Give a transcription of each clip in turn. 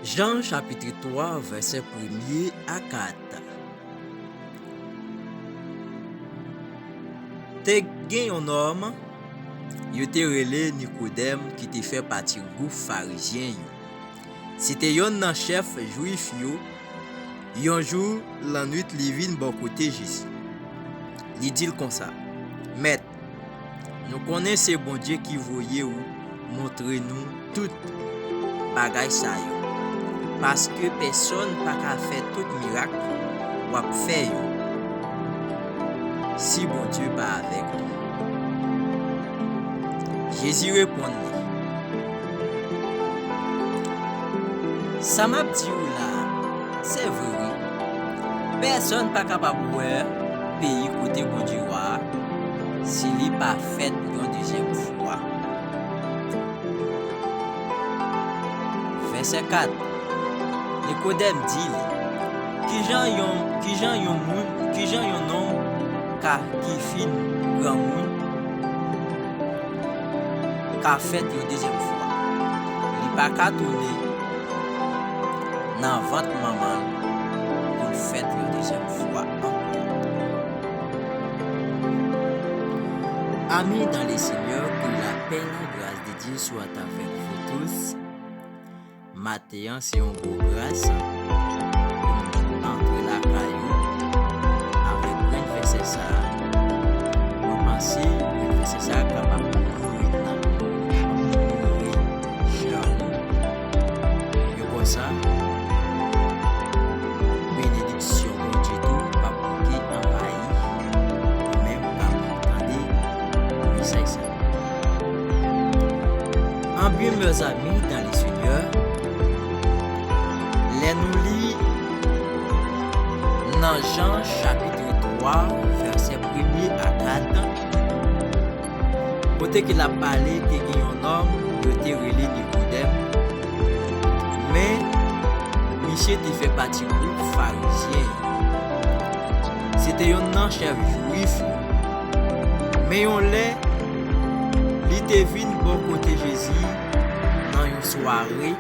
Jan chapitri 3 vèsè premye a 4 Te gen yon nòm yo te rele Nikodèm ki te fè pati gwoup Farizyen yo. Se te yonn nan chèf Jwif yo. Yon jou lannwit li vin bò kote Jezi. Li di l konsa, Mèt, Nou konnen se Bondye ki voye ou montre nou tout bagay sa yo, paske pèsòn pa ka fè tout mirak w ap fè yo si Bondye pa avèk li. Jezi reponn li, Sa m ap di ou la a, se vre wi, pèsòn pa kapab wè Peyi kote Bondye wa a, si li pa fèt yon dezyèm fwa. Vèsè 4, Nikodèm di li, Kijan yon, kijan yon moun, kijan yon nonm ka, ki fin granmoun, ka fèt yon dezyèm fwa? Li pa ka tounen nan vant manman l pou l fèt yon dezyèm fwa. fwa ankò. Ami dans le Seigneur que la paix la grâce de Dieu soit avec vous tous maten an se yon gwo gras pou nou antre lakay nou avèk grenn vèsè sa mwen panse grenn vèsè sa kapab ouvri nanm nou ouvri kè nou yon bò sa Syon Bondye tou pap manke anvayi ou menm kap tande mesaj sa. En bien meurs amis dans le seigneur lè nou li nan Jean chapitre 3 vèsè premye a 4 Kote ke l ap pale te gen yon nonm yo te rele Nikodèm, men misye te fè pati gwoup Farizyen yo. Se te yonn nan chèf Juif yo. Men yon lè, li te vin bò kote Jezi nan yon sware.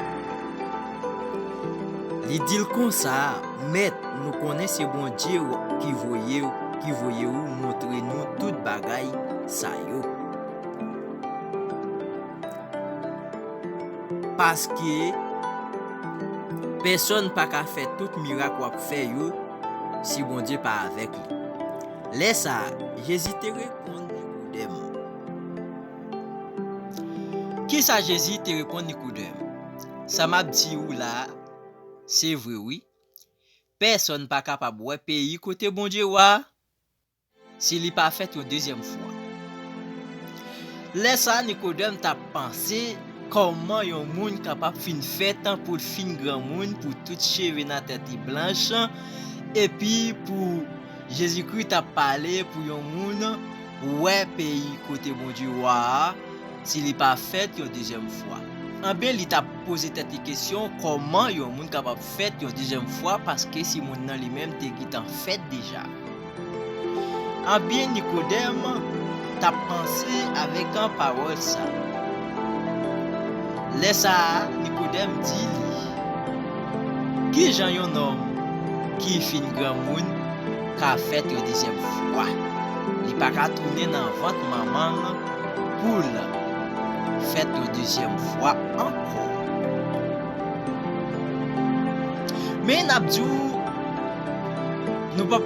Li di l konsa, Mèt, nou konnen se Bondye w ki voye ou montre nou tout bagay sa yo. Paske, pèsonn pa ka fè tout mirak w ap fè yo si Bondye pa avèk li. Lè sa a, Jezi te reponn Nikodèm. Ki sa Jezi te reponn Nikodèm? Sa m ap di ou la a, se vre wi, Pèsonn pa kapab wè peyi kote Bondye wa a, si li pa fèt yon dezyèm fwa. Lè sa a, Nikodèm t ap panse, Kòman yon moun kapab fin fèt pou l fin granmoun, pou tout cheve nan tèt li blanch, epi pou Jezikri t ap pale pou yon moun wè peyi kote Bondye Wa a si li pa fèt yon dezyèm fwa. Anben, li t ap poze tèt li kesyon kòman yon moun kapab fèt yon dezyèm fwa paske si moun nan li menm te gentan fèt deja. Anben, Nikodèm. Tap panse avèk an pawòl sa. Lè sa a, Nikodèm di Li, Ki jan yon nonm ki fin granmoun ka fèt yon dezyèm fwa? Li pa ka tounen nan vant manman l pou l fèt yon dezyèm fwa ankò. Men, n ap di w. Nou pap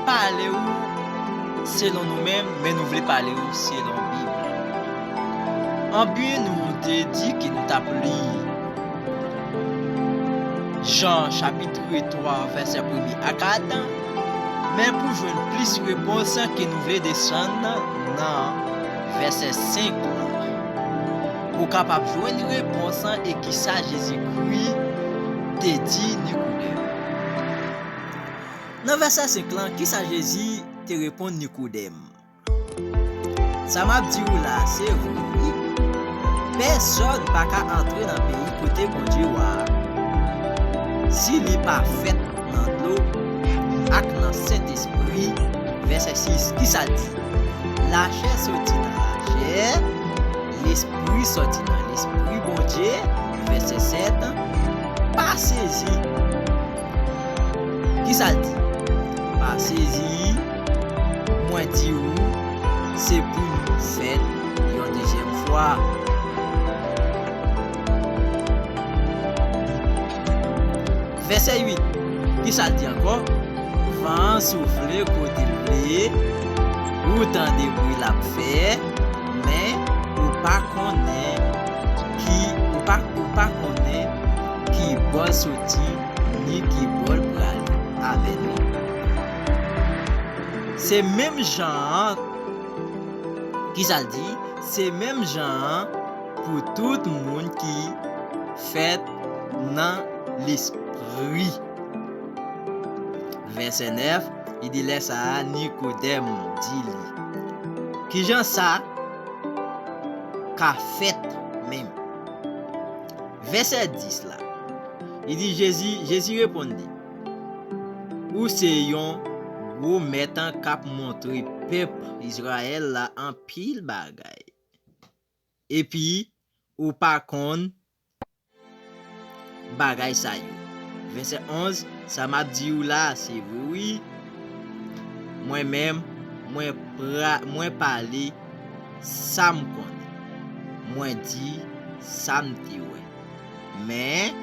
pale ou selon nou menm, men nou vle pale ou selon Bib lan. Anpi nou te di ke nou tap li Jan chapitre 3 vèsè premye a 4, men pou jwenn plis repons ke nou vle desann nan vèsè 5 lan pou w kapab jwenn repons e kisa Jezikri te di Nikodèm. Nan vèsè 5 lan, ki sa Jezi te reponn Nikodèm? Sa m ap di ou la a se vre wi, pèsòn pa ka antre nan peyi kote Bondye wa a si li pa fèt nan dlo ak nan Sentespri. Vèsè 6, ki sa l di? Lachè soti nan lachè, lespri soti nan Lespri Bondye. Vèsè 7, Pa sezi! Ki sa l di? Pa sezi, mwen di ou, se pou nou fèt yon dezyèm fwa. Vèsè 8, Ki sa l di ankò? Van an soufle kote l vle, ou tande bri l ap fè, men, ou pa konnen. ki ou pa ou pa konnen ki bò l soti ni ki bò l pral avè nou. Se menm jan an, kisa l di, se menm jan an pou tout moun ki fèt nan Lespri. Vèsè 9, li di lè sa a Nikodèm di li, Kijan sa ka fèt menm. Vèsè 10 la, li di Jezi, Jezi reponn li, Ou se yon gwo mèt k ap montre pèp Izrayèl la anpil bagay, epi ou pa konn bagay sa yo. Vèsè 11, Sa m ap di ou la a se vre wi, Mwen menm, mwen pra, mwen pale sa m konnen, mwen di sa m te wè. Men,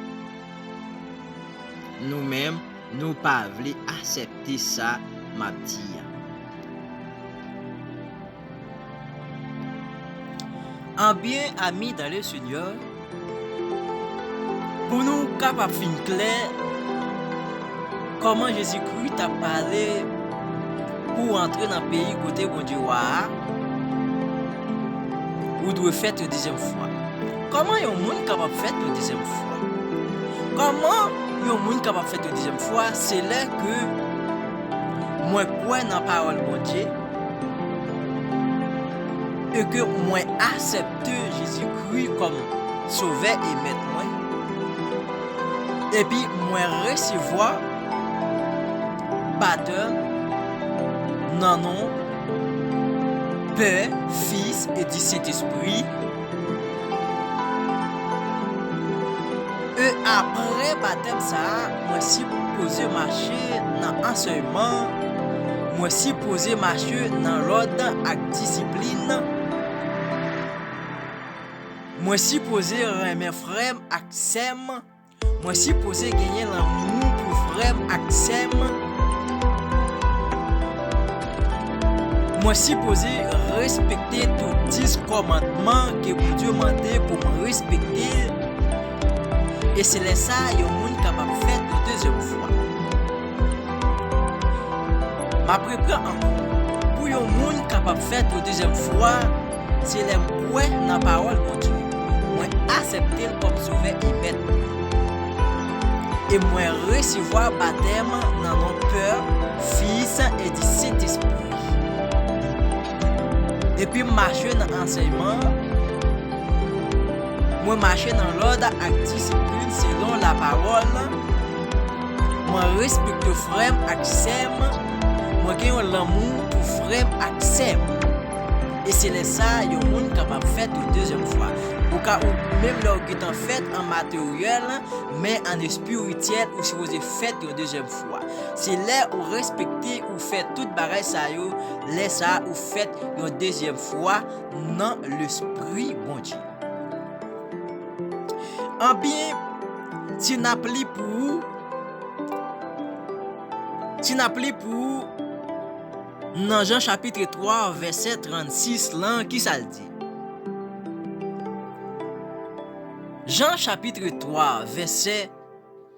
nou menm, nou pa vle asèpte sa m ap di a. Anbyen ami dans le Seigneur, pou nou kapab fin klè kòman Jezikri t ap pale pou w antre nan peyi kote Bondye Wa a, ou dwe fèt yon dezyèm fwa. Kòman yon moun kapab fèt yon dezyèm fwa? Kòman yon moun kapab fèt yon dezyèm fwa? Se lè ke mwen kwè nan pawòl Bondye, E ke mwen asepte Jezi Kri kòm Sovè e Mèt mwen, epi mwen resevwa batèm nan non Pè, Fis e di Sentespri, e apre batèm sa a, Mwen si pou poze mache nan ansèyman, mwen si poze mache nan lòd ak disiplin, mwen si poze renmen frè m ak sè m, mwen si poze genyen lanmou pou frè m ak sè m, mwen si poze respekte tout dis kòmandman ke Bondye mande pou m respekte. E se lè sa a yon moun kapab fèt yon dezyèm fwa. M ap repran ankò, pou yon moun kapab fèt yon dezyèm fwa, se lè m kwè nan pawòl Bondye, mwen asèpte l kòm Sovè e Mèt mwen, e mwen resevwa batèm nan non Pè, Fis, e di Sentespri. Depi m mache nan ansèyman an, mwen mache nan lòd ak disiplin selon lapawòl lan, mwen respekte frè m ak sè m, mwen gen yon lanmou pou frè m ak sè m. E se lè sa a yon moun kapab fèt yon dezyèm fwa. Ou ka ou menm lè ou gentan fèt an materyèl, men an espirityèl ou sipoze fèt yon dezyèm fwa. wa. Se lè ou respekte ou fè tout bagay sa yo, lè sa a ou fèt yon dezyèm fwa nan Lespri Bondye. Anbyen, si n ap li pou ou, si n ap li pou ou nan Jan chapitre 3 vèsè 36 lan, ki sa l di? Jan chapitre 3 vèsè.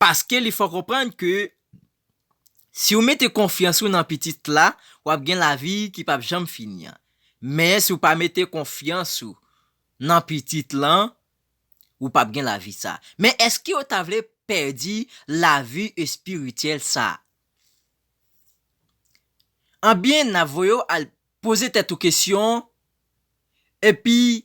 Paske li fè w konprann ke si w mete konfyans ou nan pitit la, w ap gen lavi ki p ap janm fini an. Men si w pa mete konfyans ou nan pitit lan, ou p ap gen lavi sa a. Men èske yo ta vle pèdi lavi espirityèl sa a? Anben, n ap voye w al poze tèt ou kesyon, epi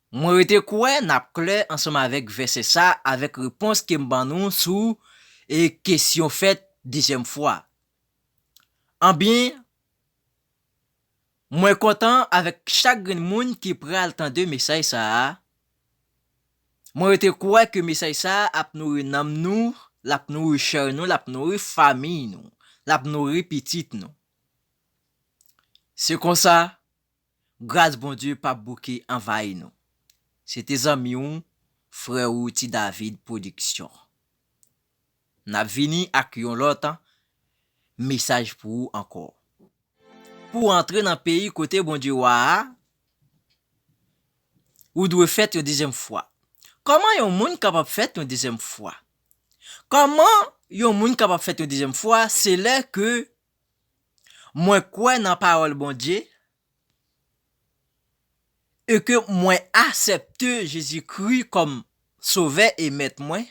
Mwen rete kwè n ap klè ansanm avèk vèsè sa avèk repons ke m ban nou sou e kesyon fèt dezyèm fwa a. Anbyen, mwen kontan avèk chak grenn moun ki pral tande mesaj sa a, mwen rete kwè ke mesaj sa a ap nouri nanm nou, l ap nouri chè nou, l ap nouri famiy nou, l ap nouri pitit nou. Se konsa. Gras Bondye pap bouke anvayi nou. Se te zanmi w, frè ou Ti David Production. Nap vini ak yon lòt mesaj pou ou ankò. Pou w antre nan peyi kote Bondye Wa a, ou dwe fèt yon dezyèm fwa. Kòman yon moun kapab fèt yon dezyèm fwa? Kòman yon moun kapab fèt yon dezyèm fwa se lè ke Mwen kwè nan pawòl Bondye e ke mwen asèpte Jezi Kri kòm Sovè e Mèt mwen,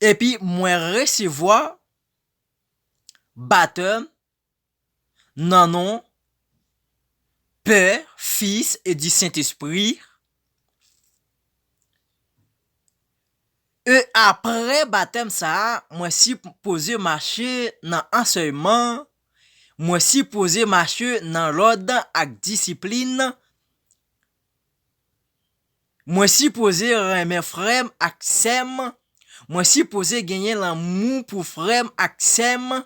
epi mwen resevwa batèm nan non Pè, Fis e di Sentespri, E apre batèm sa a, mwen si poze mache nan ansèyman, mwen si poze mache nan lòd ak disiplin, mwen si poze renmen frè m ak sè m, mwen si poze genyen lanmou pou frè m ak sè m,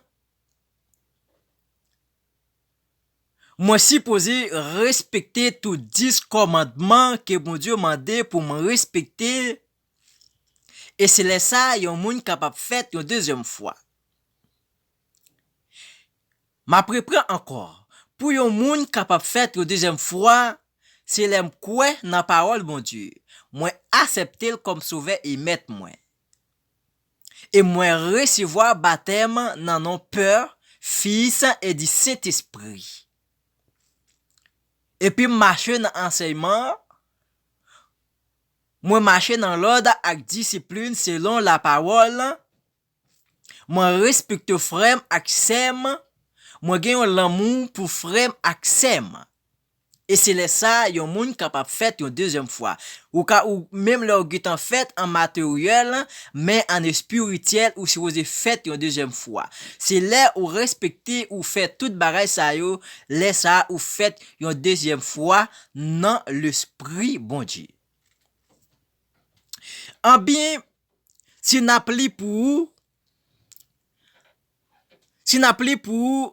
Mwen sipoze respekte tout dis kòmandman ke Bondye mande pou m respekte, e se lè sa a yon moun kapab fèt yon dezyèm fwa. M ap repran ankò, pou yon moun kapab fèt yon dezyèm fwa, se lè m kwè nan pawòl Bondye, mwen asèpte l kòm Sovè e Mèt mwen. E mwen resevwa batèm nan non Pè, Fis e di Sentespri. Epi m mache nan ansèyman an, mwen mache nan lòd ak disiplin selon lapawòl lan, mwen respekte frè m ak sè m, mwen gen yon lanmou pou frè m ak sè m. E se lè sa a yon moun kapab fèt yon dezyèm fwa. Ou ka ou menm lè ou gentan fèt an materyèl, men an espirityèl ou sipoze fèt yon dezyèm fwa. Se lè ou respekte ou fè tout bagay sa yo, lè sa a ou fèt yon dezyèm fwa nan Lespri Bondye. Anbyen, si n ap li pou ou, si n ap li pou ou,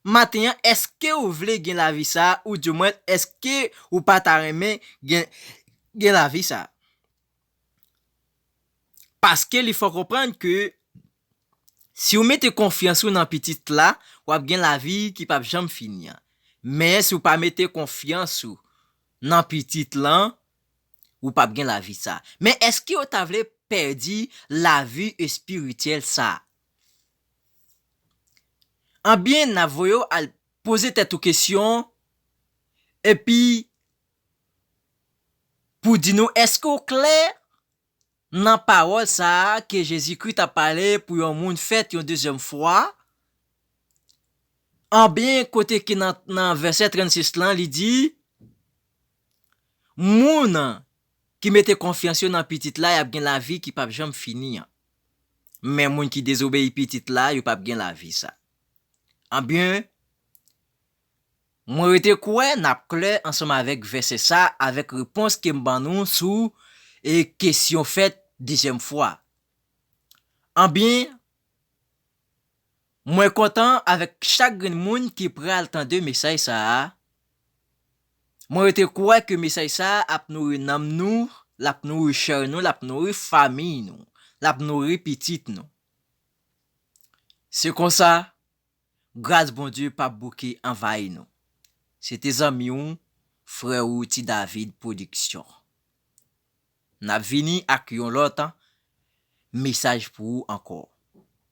Maten an, èske ou vle gen lavi sa a? Oudiomwens, èske ou pa ta renmen gen lavi sa a? Paske li fè w konprann ke si ou mete konfyans ou nan Pitit la, w ap gen lavi ki pap janm fini an. Men, si ou pa mete konfyans ou nan Pitit lan, ou pap gen lavi sa a. Men, èske ou ta vle pèdi lavi espirityèl sa a? Anbyen na voye w al poze tèt ou kesyon epi pou di nou èske w klè nan pawòl sa a ke Jezikri ta pale pou yon moun fèt yon dezyèm fwa, anbyen kote ke nan vèsè 36 lan li di moun ki mete konfyans yo nan Pitit la y ap gen lavi ki p ap janm fini an. men moun ki dezobeyi pitit la yo pap gen lavi sa anbyen mwen rete kwè nap klè ansanm avèk vèsè sa avèk repons kem ban nou sou e kesyon fèt dezyèm fwa anbyen. Mwen kontan avèk chak grenn moun ki pral tande mesaj sa a, mwen rete kwè ke mesaj sa a ap nouri nanm nou, l ap nouri chè nou, l ap nouri famiy nou, l ap nouri pitit nou. Se konsa, gras Bondye pap bouke anvayi nou. Se te zanmi w, frè ou Ti David Production. N ap vini ak yon lòt mesaj pou ou ankò.